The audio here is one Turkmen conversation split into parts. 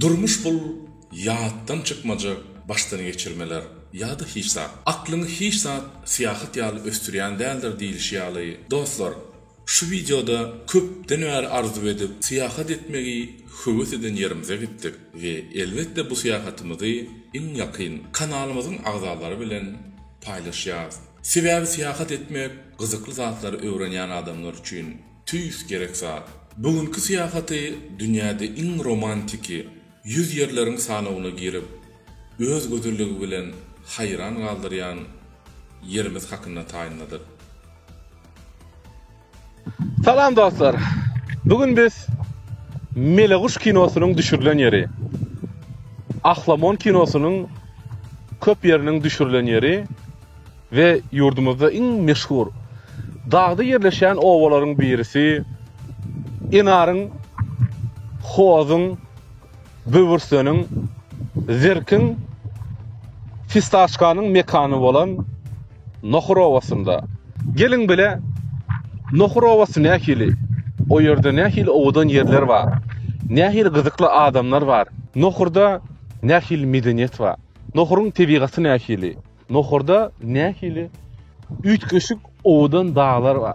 Durmuş bul ýatdan çykmajak başdan geçirmeler ýa-da hiç zat. Aklyňy hiç zat syýahat ýaly ösdürýän däldir diýilişi ýaly. Dostlar, şu wideoda köpden bäri arzuw edip, syýahat etmegi höwes eden ýerimize gitdik we elbetde bu syýahatymyzy iň ýakyn kanalymyzyň agzalary bilen paýlaşýarys. Sebäbi syýahat etmek gyzykly zatlary öwrenýän adamlar üçin Tüýs gerek zat. Bu günki syýahaty dünýäde iň romantiki ýüz ýerleriň sanawyna girip, öz gözelligi bilen haýran galdyrýan ýerimiz hakynda taýynladyk. Salam dostlar! Bu gün biz Meleguş kinosynyň düşürilen ýeri, Ahlamon kinosynyň köp ýeriniň düşürilen ýeri, we ýurdumyzda iň meşhur dagda ýerleşýän obalaryň birisi Enaryň, Hozuň, Böwürseniň, Zirkiň, Fistaşkanyň mekany bolan Nohur obasynda. Geliň bile, Nohur obasy nähili, o ýerde nähili owadan ýerler bar, nähili gyzykly adamlar bar, Nohurda nähili medeniýet bar, Nohuryň tebigaty nähili, Nohurda nähili üýtgeşik owadan daglar bar?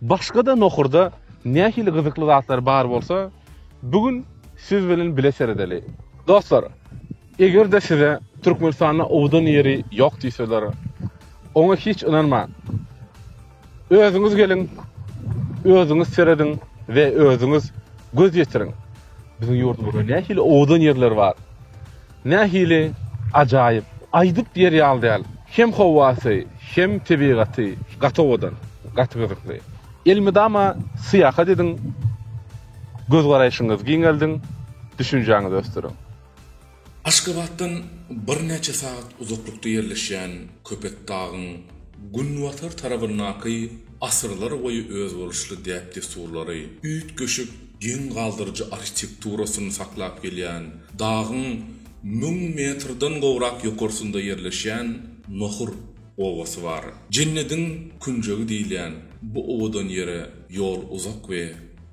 Başga-da nohurda nähili gyzykly zatlar bar bolsa, bu gün siz bilen bile seredeli. Dostlar, eger-de size Türkmenistanda owadan ýeri ýok diýseler, oňa hiç ynanmaň. Özüňiz geliň, özüňiz serediň we özüňiz göz ýetiriň. Biziň ýurdumyzda nähili owadan ýerler bar. Nähili ajaýyp. Aýdyp ýer ýaly däl. Hem howasy, hem tebigaty gaty owadan, gaty gyzykly. Elmydama syýahat ediň, göz garaýşyňyzy giňeldiň, düşünjäňizi ösdüriň. Aşgabatdan birnäçe sagat uzaklykda ýerleşýän Köpetdagyň günbatar tarabyndaky asyrlar boýy özboluşly däp-dessurlary, üýtgeşik geň galdyryjy arhitekturasyny saklap gelýän dagyň müň metrden gowrak ýokarsynda ýerleşýän Nohur obasy bar. Jennediň künjegi diýilýän bu owadan ýere ýol uzak we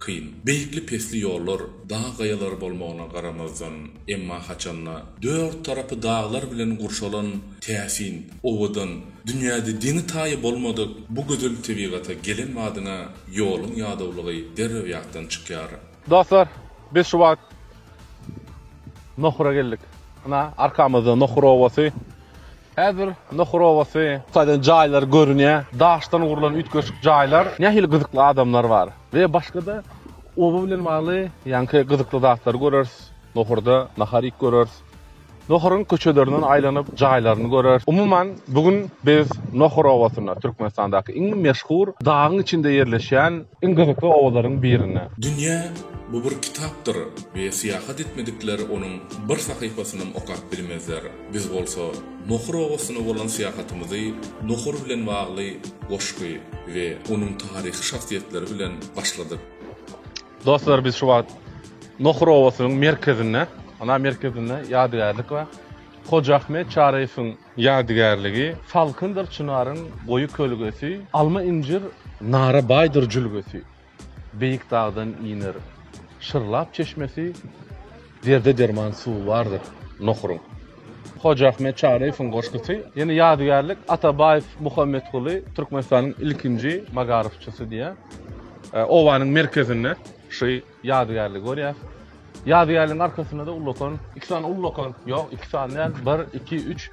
kyn, beýikli-pesli ýollar, dag gaýalary bolmagyna garamazdan, emma haçanda dört tarapy daglar bilen gurşalan täsin, owadan, dünýäde deňi-taýy bolmadyk bu gözel tebigata gelen badyňa ýoluň ýadawlygy derrew ýatdan çykýar. Dostlar, biz şu wagt Nohura geldik. Ynha, arkamyzda Nohur obasy. Häzir Nohur obasy, Hytaýdan jaýlar görünýär. Daşdan gurlan üýtgeşik jaýlar. Nähili gyzykly adamlar bar. We başga-da oba bilen bagly ýaňky gyzykly zatlary göreris. Nohurda nahar iýip göreris. Nohuryň köçelerinden aýlanyp, jaýlaryny göreris. Umuman, bu gün biz Nohur obasyna, Türkmenistandaky iň meşhur dagyň içinde ýerleşýän iň gyzykly obalaryň birine. Dünýä bu bir kitapdyr we syýahat etmedikler onuň bir sahypasynam okap bilmezler. Biz bolsa Nohur obasyna bolan syýahatymyzy Nohur bilen bagly goşgy we onuň taryhy şahsyýetleri bilen başladyk. Dostlar biz şu wagt Nohur obasynyň merkezinde, ana merkezinde ýadygärlik bar. Hoja Ahmet Çaryýewiň ýadygärligi, Salkyndyr çynaryň goýy kölgesi, Alma-injir nara baýdyr jülgesi. Beýik dagdan iner şyrlap çeşmesi. Derde derman suwy bardyr nohuryň. Hoja Ahmet Çaryýewiň goşgusy. Ýene ýadygärlik, Atabaýew Muhammetguly Türkmenistanyň ilkinji magaryfçysy diýýär. Obanyň merkezinde şu ýadygärligi görýäs. Ýadygärligiň arkasynda-da ullakan, iki sany ullakan, ýok, iki sany däl, bir, iki, üç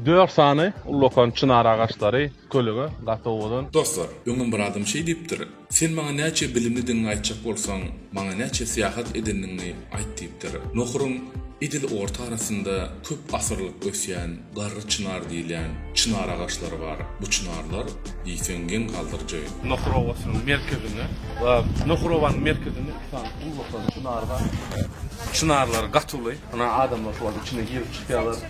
Dört sany ullakan çynar agaçlary kölege gaty owadan. Dostlar, öňem bir adam şeý diýipdir, Sen maňa näçe bilimlidigiňi aýtjak bolsaň, maňa näçe syýahat edendigiňi aýt diýipdir. Nohuryň edil orta arasynda köp asyrlyk ösýän garry çynar diýilýän çynar agaçlary bar. Bu çynarlar diýseň geň galdyryjy. Nohur obasynyň merkezinde we Nohur obanyň merkezinde iki sany ullakan çynar bar. Çynarlar gaty uly. Ynha adamlar şolaryň içine girip çykýarlar.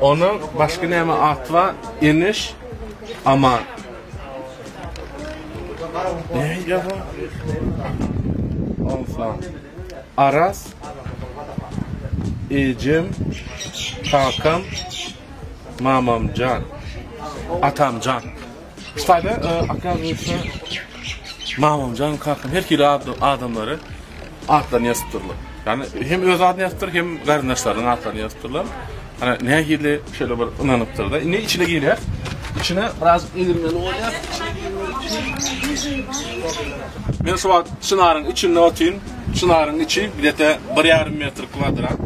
Onuň başky näme at bar? Eniş, Aman. Nähili bu? Onsa. Aras. Ejem. Kakam. Mamamjan. Atamjan. Şaýly okazuýaçsa Mamamjan kakam her hili adamlary atlaryny ýazypdyrlar. Ýani hem öz adyny ýazypdyr, hem garyndaşlarynyň atlaryny ýazypdyrlar. Ana nähili şeýle bir ynanypdyrda. Indi içine girýär. İçine biraz egirmeli bolýar. Men şu wagt çynaryň içinde otyryn. Çynaryň içi bir ýarym metr kwadrat.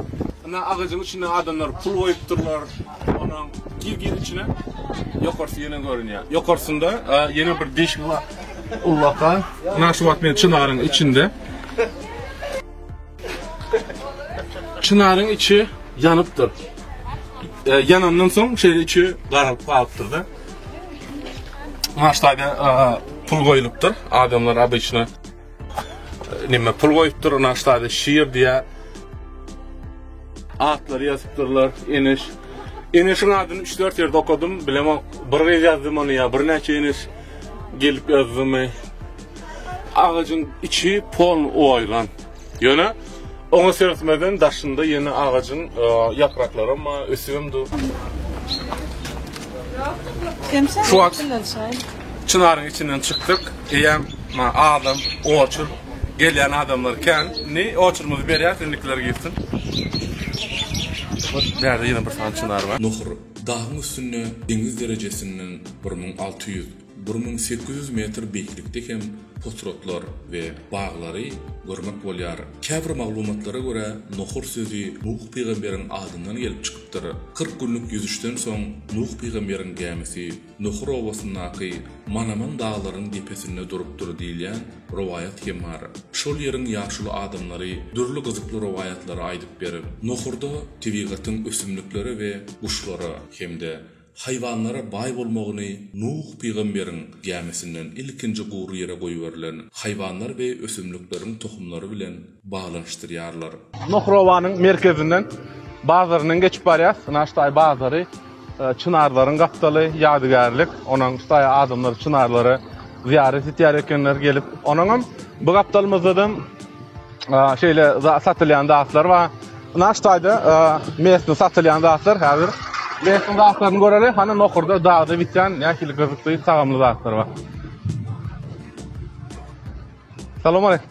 Ynha agajyň içinde adamlar pul goýupdyrlar. Onam gir gir içine. Ýokarsy ýene görünýär. Ýokarsynda ýene bir deşik bar. Ullakan. Ynha şu wagt men çynaryň içinde. Çynaryň içi ýanypdyr. E, ýanandan soň şeýle içi garalyp galypdyr-da. Maşdaga pul goýlupdyr. Adamlar abyçna Nime pul goýupdyr, naştady şir diýä. Atlary ýazypdyrlar, Eneş. Eneşiň adyny üç-dört ýerde okadym, bilemok. Bir gyz ýazdy muny ýa birnäçe Eneş gelip ýazdymy. Agajyň içi pol oýlan. Ýöne oňa seretmeden daşynda ýene agajyň e, ýapraklarym bar, ösübem dur. Şu wagt Çynaryň içinden çykdyk. Eýýäm ma adam, oçur, gelýän adamlar kän. Indi oçurymyzy berýäs, indikiler girsin. Hut, bärde ýene bir sany çynar bar. Nohur, dagyň üstünde deňiz derejesinden bir müň alty ýüz, bir müň sekiz ýüz metr beýiklikde hem potratlar we baglary görmek bolýar. Käbir maglumatlara görä, Nohur sözi Nuh pygamberiň adyndan gelip çykypdyr. Kyrk günlük ýüzüşden soň Nuh pygamberiň gämisi Nuhur obasyndaky Manaman daglaryň depesinde durupdyr diýilýän rowaýat hem bar. Şol ýeriň ýaşuly adamlary dürli gyzykly rowaýatlary aýdyp berip, Nuhurda tebigatyň ösümliklere we guşlara hem-de haýwanlara baý bolmagyny Nuh pygamberiň gämisinden ilkinji gury ýere goýberilen haýwanlar we ösümlikleriň tohumlary bilen baglanyşdyrýarlar. Nohrowanyň merkezinden bazaryndan geçip barýas. Ina ştaý bazary, çynarlaryň gapdaly, ýadygärlik. Onuň ştaý adamlar çynarlara zyýarat etýär ekenler gelip. Onuňam bu gapdalymyzdadam şeýle satylýan zatlar bar. Ina ştaýda mesde satylýan zatlar häzir mesde zatlaryny göreli. Hany nohurda dagda bitýän nähili gyzykly tagamly zatlar bar. Salowmaleýkim.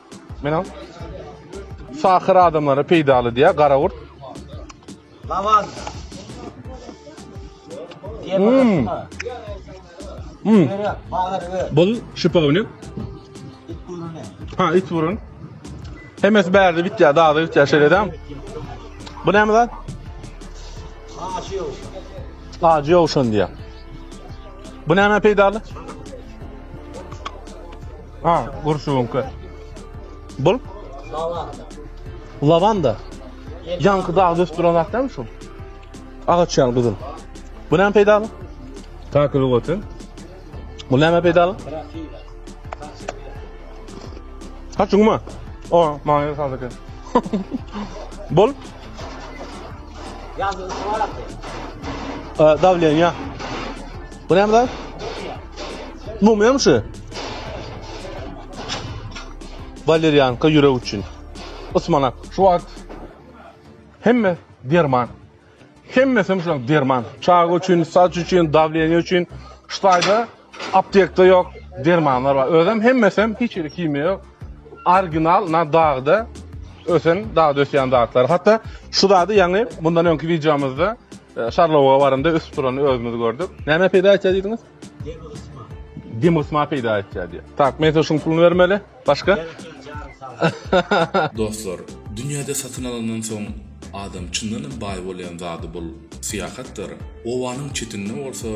Menem sakyr adamlara peýdaly diýýär garagurt. Lawan. Hmm. Hmm. Bul şipa bilen. Ha, it burun. Hemes bärde bitýär, dagda bitýär şeýle edem. Bu näme zat? Acı ýowşan. Acı ýowşan diýýär. Bu näme peýdaly? Ha, gurşuňky. Bul? Lavanda. Lavanda. Ýaňky dagy dösüp duran zat dälmi şu? Agaç ýaly gyzyl. Bu näme peýdaly? Takyl goty. Bu näme peýdaly? Ha, çuňma. O, maňa ýer saldy eken. Bul? Ýazdy, suwalapdy. Davleniýa. Bu näme zat? Mumiýa. Mumiýa mı şu? Walerianka ýürek üçin. Ysmanak. Şu wagt hemme derman. Hemmesi hem şuň derman. Çaga üçin, saç üçin, dawleniýe üçin. Ştaýda aptekde ýok dermanlar bar. Özem hemmesi hem hiç hili himiýa ýok. Original na dagda ösen, dagda ösýän zatlar. Hatda şu zady ýaňy mundan öňki wideomyzda e, Şarlowa baranda ösüp durany özümiz gördük. Näme peýda etýär diýdiňiz? Dem gysma peýda etýär diýýär. Tak, men size şuň puluny bermeli. Başga? Dostlar, dünýäde satyn alandan soň adam çyndanam baý bolýan zady bul syýahatdyr. Obanyň çetinde bolsa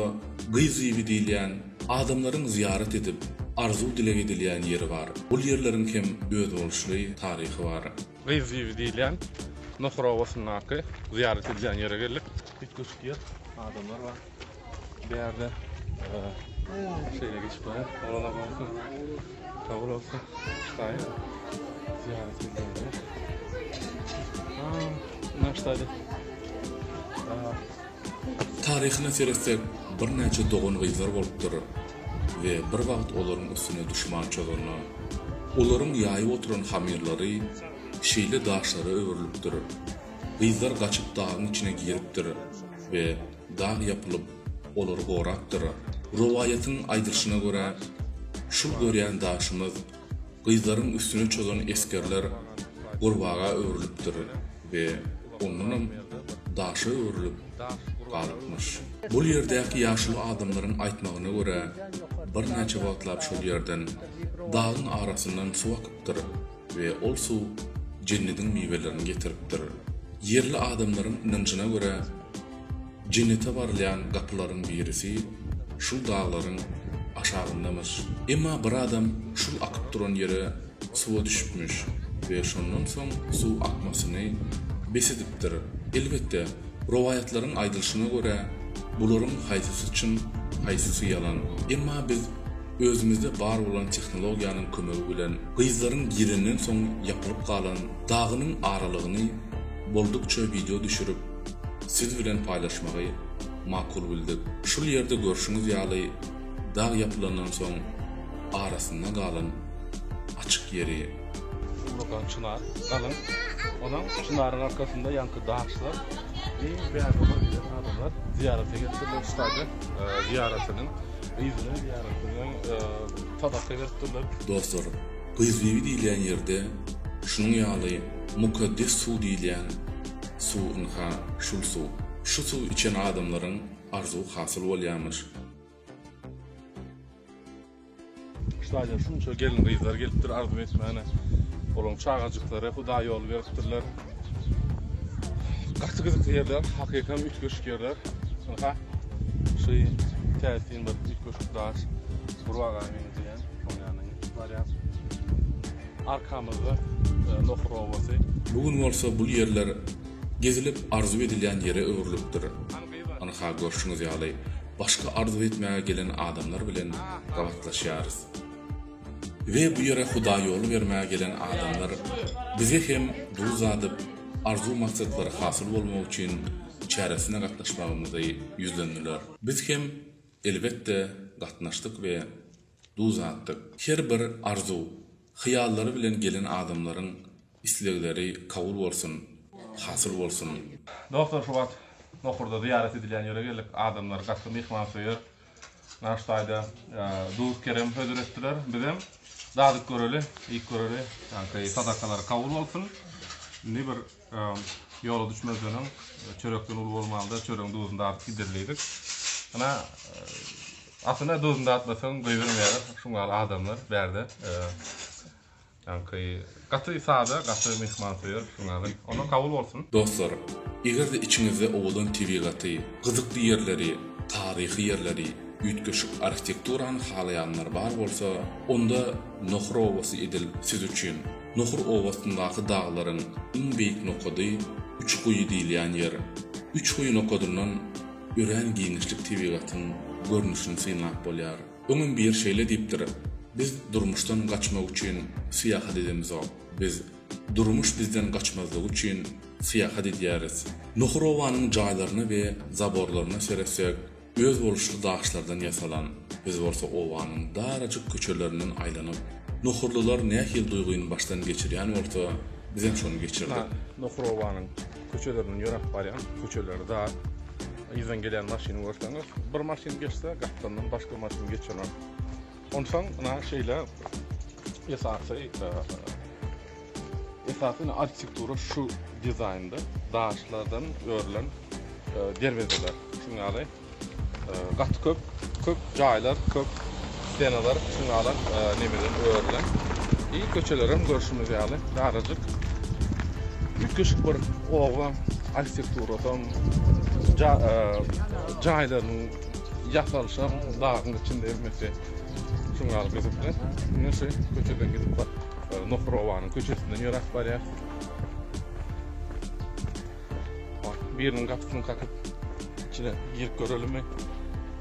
Gyz Bibi diýilýän adamlaryň zyýarat edip, arzuw-dileg edilýän ýeri bar. Bul ýerleriň hem özboluşly taryhy bar. Gyz Bibi diýilýän Nohur obasyndaky zyýarat edilýän ýere geldik. Üýtgeşik ýer, adamlar bar. Bärde şeýle geçip barýar. Oglanlar bolsa sag bolsun. Şaýy zyýarat edýärler. Naşdady. Taryhyna seretsek, birnäçe dogan-gyzlar bolupdyr we bir wagt olaryň üstüne duşman çozanda, olaryň ýaýyp oturan hamyrlary şeýle daşlara öwrülipdir. Gyzlar gaçyp dagyň içine giripdir we dag ýapylyp, olary gorapdyr. Rowaýatyň aýdylyşyna görä, şul görýän daşymyz, gyzlaryň üstüne çozan esgerler gurbaga öwrülipdir we ondanam daşa öwrülip galypmyş. Bu ýerdäki ýaşuly adamlaryň aýtmagyna görä, birnäçe wagtlap şol ýerden, dagyň arasyndan suw akypdyr. We ol suw Jennediň miwelerini getiripdir. Ýerli adamlaryň ynanjyna görä, Jennete barylýan gapylaryň birisi şul daglaryň aşagyndamyş. Emma bir adam şul akyp duran ýere suwa düşüpmiş we şondan soň suw akmasyny bes edipdir. Elbetde, rowaýatlaryň aýdylyşyna görä, bularyň haýsysy çyn, haýsysy ýalan. Emma biz. Özümizde bar bolan tehnologiýanyň kömegi bilen gyzlaryň girenden soň ýapylyp galan dagynyň aralygyny boldukça wideo düşürip, siz bilen paýlaşmagy makul bildik. Şul ýerde görşüňiz ýaly dag ýapylandan soň arasynda galan açyk ýeri. Ullakan çynar, galyň. Onuň çynaryň arkasynda ýaňky dagçylar iň bägübir giden adamlar zyýarata gelipdirler. Staze zyýaratynyň Gyzyny diýýäris biz öň sadaka berip durlar. Dostlar, Gyzbibi diýilýän ýerde şunuň ýaly mukaddes suw diýilýän suw ynha şul suw. Şu suw içen adamlaryň arzuwy hasyl bolýamyş. Stadyýa şunça gelin gyzlar gelipdir arzuw etmäne. Olaň çagajyklary hudaý ýol beripdirler. Gaty gyzykly ýerler, hakykam üýtgeşik ýerler. Aha. Şu täsin bir üýtgeşik daş. Bir waga meňzeýän. Oň ýanyny barýas. Arkamyzda e, Nohur obasy. Bu gün bolsa bul ýerler gezilip arzuw edilýän ýere öwrülipdir. Ynha görşüňiz ýaly başga arzuw etmäge gelen adamlar bilen gabatlaşýarys. We bu ýere Hudaý ýoly bermäge gelen adamlar bize hem duz dadyp, arzuw maksatlary hasyl bolmagy üçin çäresine gatnaşmagymyzy ýüzlendiler. Biz hem elbetde gatnaşdyk we duz datdyk. Her bir arzuw, hyýallary bilen gelen adamlaryň Islegleri kabul bolsun, hasyl bolsun. Dostlar şu wagt Nohurda zyýarat edilýän ýere geldik. Adamlar gaty myhmansöýer. Naş daýza, Duz Kerem hödür etdiler. Bizem dadyp göreli, iýip göreli. Janky sadakalary kabul bolsun. Indi bir ýola düşmezden öň çörekden uly bolmaly-da, çöregiň duzuny dadyp gideris diýdik. Ynha, aslynda duzuny dadyp bilseň goýbermeýärler, şuň ýaly adamlar bärde. Ýaňky gaty sada, gaty myhmansöýer Füsun aga. Ondan kabul bolsun. Dostlar, eger-de içiňizde owadan tebigaty, gyzykly ýerleri, taryhy ýerleri, üýtgeşik arhitekturany halaýanlar bar bolsa, onda Nohur obasy edil siz üçin. Nohur obasyndaky daglaryň iň beýik nokady Üç guýy diýilýän ýer. Üç guýy nokadyndan örän giňişlik tebigatyň görnüşini synlap bolýar. Öňem biri şeýle diýipdir, Biz durmuşdan gaçmak üçin syýahat edemizok, biz durmuş bizden gaçmazlygy üçin syýahat edýäris. Nohurobanyň jaýlaryna we zaborlaryna seretsek, özboluşly daşlardan ýasalan, biz bolsa obanyň darajyk köçelerinden aýlanyp, nohurlylar nähili duýgyny başdan geçirýän bolsa, bizem şony geçirdik. Nohurobanyň Köçelerinden ýöräp barýan, köçeleri dar. Yzdan gelýän maşyny görseňiz, bir maşyn geçse, gapdalyndan başga maşyn geçener. Onsoň ina şeýle esasy esasy arhitektura şu dizaýnda daşlardan örülen derwezeler. Şuň ýaly Gaty köp köp jaýlar köp stenalar çyňalar nemeden örülen i köçelerem görşümiz ýaly darajyk üýtgeşik bir oba arhitekturasam ja jaýlarynyň ýasalyşam dagyň içinde hemmesi şuň ýaly gyzykly indi şu köçeden gidip bak nohur obanyň köçesinden ýöräp barýas. Biriniň gapysyny kakyp, içine girip görelimi?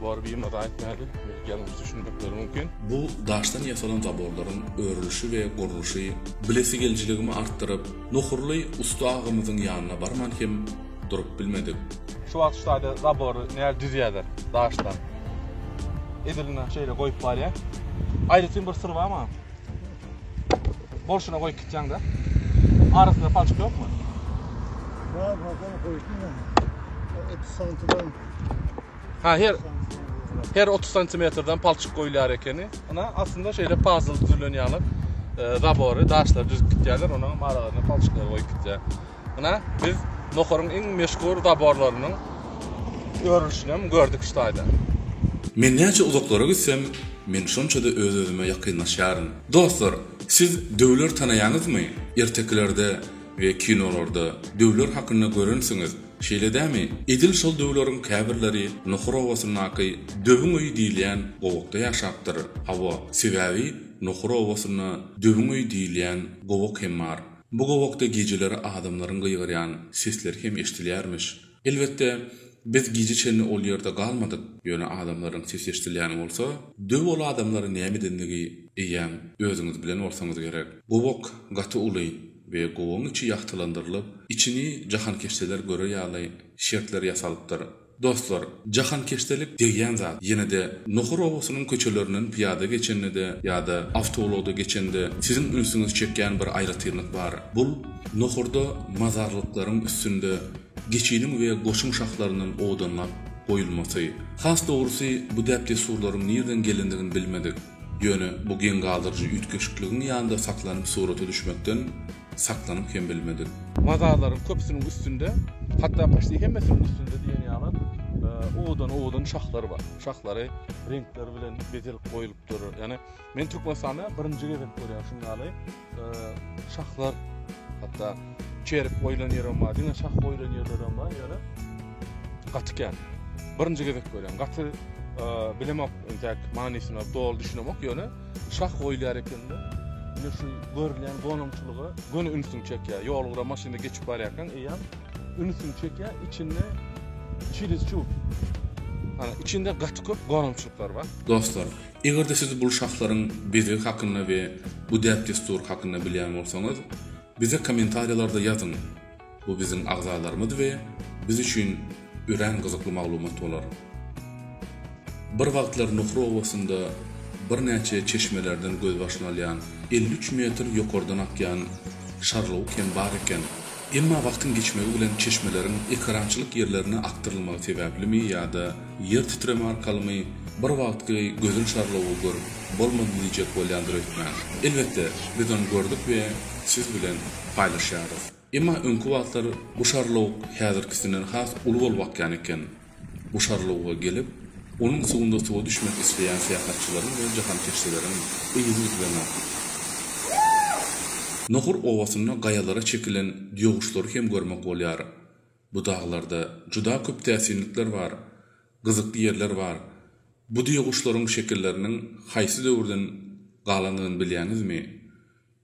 Bar birine zat aýtmaýardy. Belki ýalňyş düşünmekleri mümkin. Bu daşdan ýasalan zaborlaryň örülişi we gurluşy bilesigelijiligimi artdyryp, Nohurly ussa agamyzyň ýanyna barman hem durup bilmedik. Şu wagt şu taýda zabory näz düzýärler daşdan. Edilini şeýle goýup barýar. Aýratyn bir syr bar maňa. Bolşuna goýup gitýäňda. Arasynda palçyk ýokmy? Bar, bakan goýdum men. O 30 santimden. Ha, her her 30 santimetrden palçyk goýulýar ekeni. Ana aslynda şeýle pazl düzülen ýaly e, zabory, daşlary düzüp gitýärler, onuň aralaryna palçyklary goýup gitýär. Ynha, biz Nohuryň iň meşhur zaborlarynyň örülişinem gördük şu taýda. Men näçe uzaklara gitsem, men şonça-da öz-özüme ýakynlaşýaryn. Dostlar, siz döwler tanaýaňyzmy? Ertekilerde we kinolarda döwler hakynda görensiňiz, şeýle dämi? Edil şol döwleriň käbirleri Nohur obasyndaky Döwüň öýi diýilýän gowakda ýaşapdyr. Hawa, sebäbi Nohur obasynda Döwüň öýi diýilýän gowak hem bar. Bu gowakda gijeleri adamlaryň gygyrýan sesleri hem eşidilýärmiş. Elbetde, biz gije çenli ol ýerde galmadyk, ýöne adamlaryň sesi eşidilýän bolsa, döw ol adamlary näme edendigi eýýäm özüňiz bilen bolsaňyz gerek. Gowak gaty uly we gowagyň içi ýagtylandyrylyp, içini jahankeşdeler görer ýaly şertler ýasalypdyr. Dostlar, jahankeşdelik degýän zat. Ýene-de Nohur obasynyň köçelerinden pyýada geçende-de ýa-da awtoulagda geçende siziň ünsüňizi çekýän bir aýratynlyk bar. Bul, Nohurda mazarlyklaryň üstünde geçiniň we goşuň şahlaryndan odanlap goýulmasy. Has dogrusy, bu däp-dessurlaryň nirden gelendigini bilmedik. Ýöne bu geň galdyryjy üýtgeşikligiň ýanynda saklanyp surata düşmekden saklanyp hem bilmedik. Mazarlaryň köpüsiniň üstünde, hatda poçti hemmesiniň üstünde diýen ýaly owadan-owadan şahlar bar. Şahlary reňkler bilen bezelip goýlupdyr. Ýagny men Türkmenistanda birinji gezek görýän şuny ýaly. Şahlar hatda çerip goýlan ýerim bar, diňe şah goýlan ýerlerem bar, ýöne gaty kän. Birinji gezek görýän. Gaty bilemok entek manysyna doly düşünemok ýöne şah goýulýar ekende indi şu görülýän gonamçylyga göni ünsüň çekýär ýol gara maşynda geçip barýarkaň eýýäm ünsüň çekýär içinde çiliz çup ana içinde gaty köp gonamçylyklar bar dostlar Eger-de siz bul şahslaryň bezegi hakynda we bu däp-dessury hakynda bilýän bolsaňyz, bize kommentariýalarda ýazyň, bu biziň agzalarymyz we biz üçin örän gyzykly maglumat bolar. Bir wagtlar Nuhur obasynda birnäçe çeşmelerden gözbaşyny alýan elli üç metr ýokardan akýan Şarlawuk hem bar eken. Emma wagtyň geçmegi bilen çeşmeleriň ekerançylyk ýerlerine akdyrylmagy sebäplimi ýa-da Ýer titreme arkalymy bir wagtky gözel şarlawy görüp bolmady diýjek bolýandyr hökman. Elbetde, biz ony gördük we siz bilen paýlaşýarys. Emma öňki wagtlar bu şarlawuk häzirkisinden has uly bolup akýan eken. Bu şarlawuga gelip, onuň suwunda suwa düşmek isleýän syýahatçylaryň we jahankeşdeleriň yzy üzlenok. Nohur obasynda gaýalara çekilen ýoguçlary hem görmek bolýar. Bu daglarda juda köp täsinlikler bar, gyzykly ýerler bar. Bu düýe guşlaryň şekilleriniň haýsy döwürden galandygyny bilýäňizmi?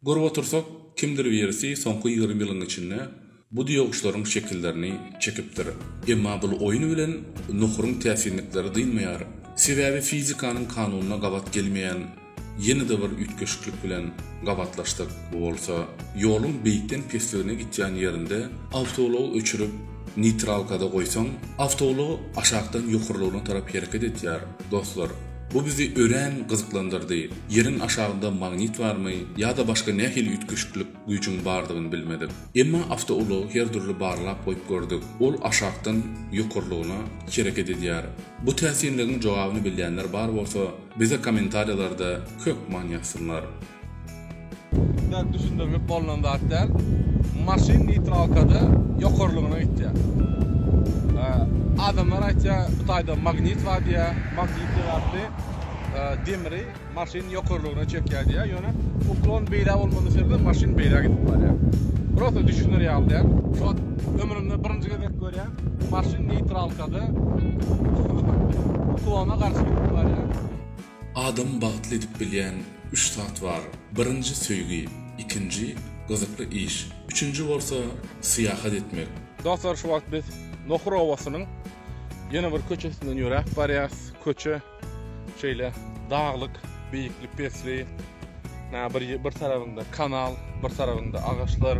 Görüp otursak, kimdir birisi soňky ýigrimi ýylyň içinde bu düýe guşlaryň şekillerini çekipdir. Emma bul oýun bilen nohuryň täsinlikleri dynmaýar. Sebäbi fizikanyň kanunyna gabat gelmeýän Ýene-de bir üýtgeşiklik bilen gabatlaşdyk. Bu bolsa, ýoluň beýikden pesligine gitýän ýerinde awtoulagy öçürip, neýtralkada goýsaň, awtoulag aşakdan ýokarlygyna tarap hereket etýär. Dostlar, bu bizi örän gyzyklandyrdy. Ýeriň aşagynda magnit barmy ýa-da başga nähili üýtgeşiklik? Güýjüň bardygyny bilmedik. Emma awtoulagy her dürli barlap goýup gördük. Ol aşakdan ýokarlygyna hereket edýär. Bu täsinligiň jogabyny bilýänler bar bolsa, bize kommentariýalarda hökman ýazsynlar. Bäk düşündirlip bolnan zat däl. Maşyn neýtralkada ýokarlygyna gitýär. Adamlar aýtýar, bu taýda magnit bar diýýär. Magnit ýaly demri. Maşyn ýokarlygyna çekýär diýýär, ýöne uklon beýle bolmazlyk şertinde maşyn beýle gidip barýar. Prosta düşüner ýaly däl. Ot ömrümde birinji gezek görýän maşyn neýtralkada uklona garşy gidip barýar. Adamy bagtly edip bilýän üç zat bar, birinji söýgi, ikinji gyzykly iş, üçünji bolsa syýahat etmek. Dostlar şu wagt biz Nohur obasynyň ýene bir köçesinden ýöräp barýas. Köçe. Şeýle daglyk, beýikli pesli, nä bir bir tarapynda kanal, bir tarapynda agaçlar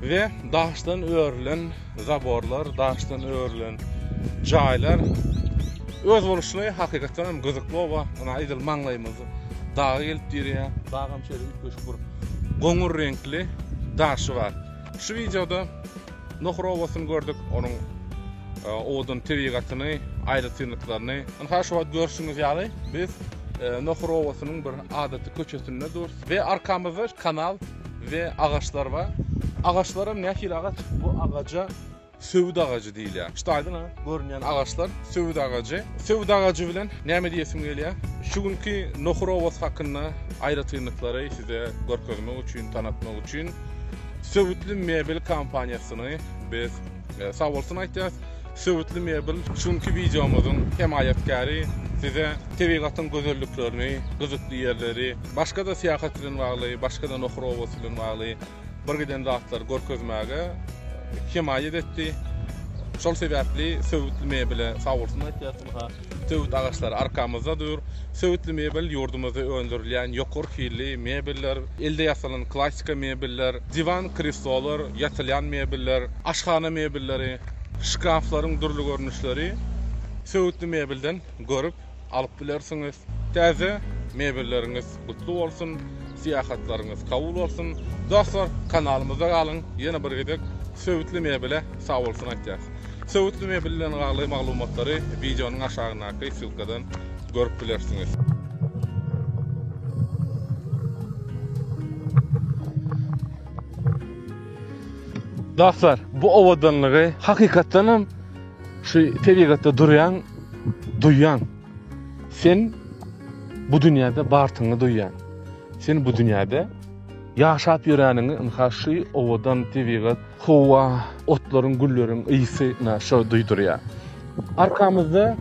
we daşdan örülen zaborlar, daşdan örülen jaýlar özboluşly hakykatdan hem gyzykly oba, ynha edil maňlaýymyz daga gelip dirýär. Dagam şeýle üýtgeşik bir goňur reňkli daşy bar. Şu wideoda Nohur obasyny gördük, onuň owadan tebigatyny, aýratynlyklaryny. Ynha şu wagt görşüňiz ýaly, biz Nohur obasynyň bir adaty köçesinde durus we arkamyzda kanal we agaçlar bar. Agaçlaram nähili agaç? Bu agaja söwüt agajy diýilýär. Şu daýdan görünýän agaçlar söwüt agajy. Söwüt agajy bilen näme diýesim gelýär? Şu günki Nohur obasy hakynda aýratynlyklary size görkezmek üçin, tanatmak üçin. Söwütli mebel kompaniýasyny biz sag bolsun aýtýas. Söwütli mebel şunky wideomyzyň hemaýatkäri size tebigatyň gözelliklerini, gyzykly ýerleri, başga-da syýahat bilen bagly, başga-da Nohur obasy bilen bagly bir giden zatlary görkezmäge hemaýat etdi. Şol sebäpli Söwütli mebele sag bolsun aýtýas. Söwüt agaçlary arkamyzda dur. Söwütli mebel ýurdumyzda öndürilýän ýokary hilli mebeller, elde ýasalan klassyka mebeller, diwan, kreslolar, ýatylýan mebeller, aşhana mebelleri, şkaflaryň dürli görnüşleri söwütli mebelden görüp alyp bilersiňiz. Täze mebelleriňiz gutly bolsun syýahatlaryňyz kabul bolsun dostlar kanalymyzda galyň ýene bir gezek söwütli mebele sag bolsun aýtýas söwütli mebel bilen bagly maglumatlary wideonyň aşagyndaky ssylkadan görüp bilersiňiz. Dostlar bu owadanlygy hakykatdan hem şu tebigatda durýan duýýan Sen bu dünýäde bartyňy duýýan. Sen bu dünýäde ýaşap ýöreniňi ynha şu owadan tebigat, howa, otlaryň, gülleriň ysy ynha şo duýdurýar. Arkamyzda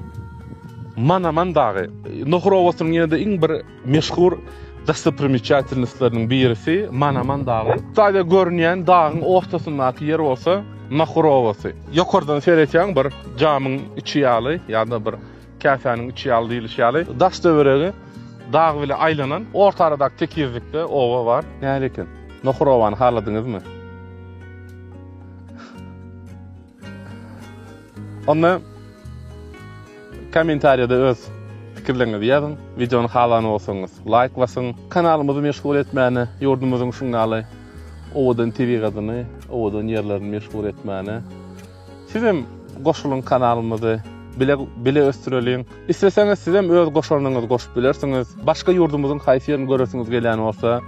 Manaman dagy. Nohur obasynyň ýene-de iň bir Meşhur dostoprimečatilnostlarynyň birisi Manaman dagy. Taze görünýän dagyň ortasyndaky ýer bolsa Nahur obasy. Ýokardan seretýäň bir jamyň içi ýaly ýa-da bir käsäniň içi ýaly diýlişi ýaly daş-töweregi dag bile aýlanan orta aradaky tekizlikde oba bar. Näle eken? Nahur obany haladyňyzmy? Onda kommentariýada öz pikirleriňizi ýazyň, wideony halan bolsaňyz laýk basyň. Kanalymyzy meşhur etmäne, ýurdumyzyň şundaly owadan tebigatyny, owadan ýerlerini meşhur etmäne sizem goşulyň kanalymyzy bile bile ösdüreliň. Isleseňiz sizem öz goşandyňyzy goşup bilersiňiz. Başga ýurdumyzyň haýsy ýerini göresiňiz gelýän bolsa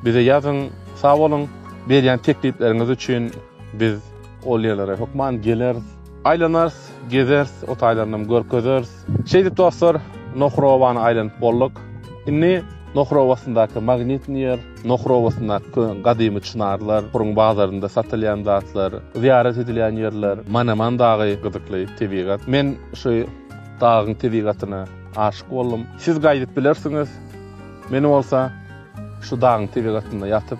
bize ýazyň. Sag boluň berýän teklipleriňiz üçin biz. Ol ýerlere hökman geleris. Aýlanarys, gezeris, o taýlarynam görkezeris. Şeýdip dostlar, Nohur obany aýlanyp bolduk. Indi Nohur obasyndaky magnitni ýer, Nohur obasyndaky gadymy çynarlar, Nohuryň bazarynda satylýan zatlar, zyýarat edilýän ýerler, Manaman dagy gyzykly tebigat. Men şu dagyň tebigatyna aşyk boldum. Siz gaýdyp bilersiňiz. Men bolsa şu dagyň tebigatynda ýatyp,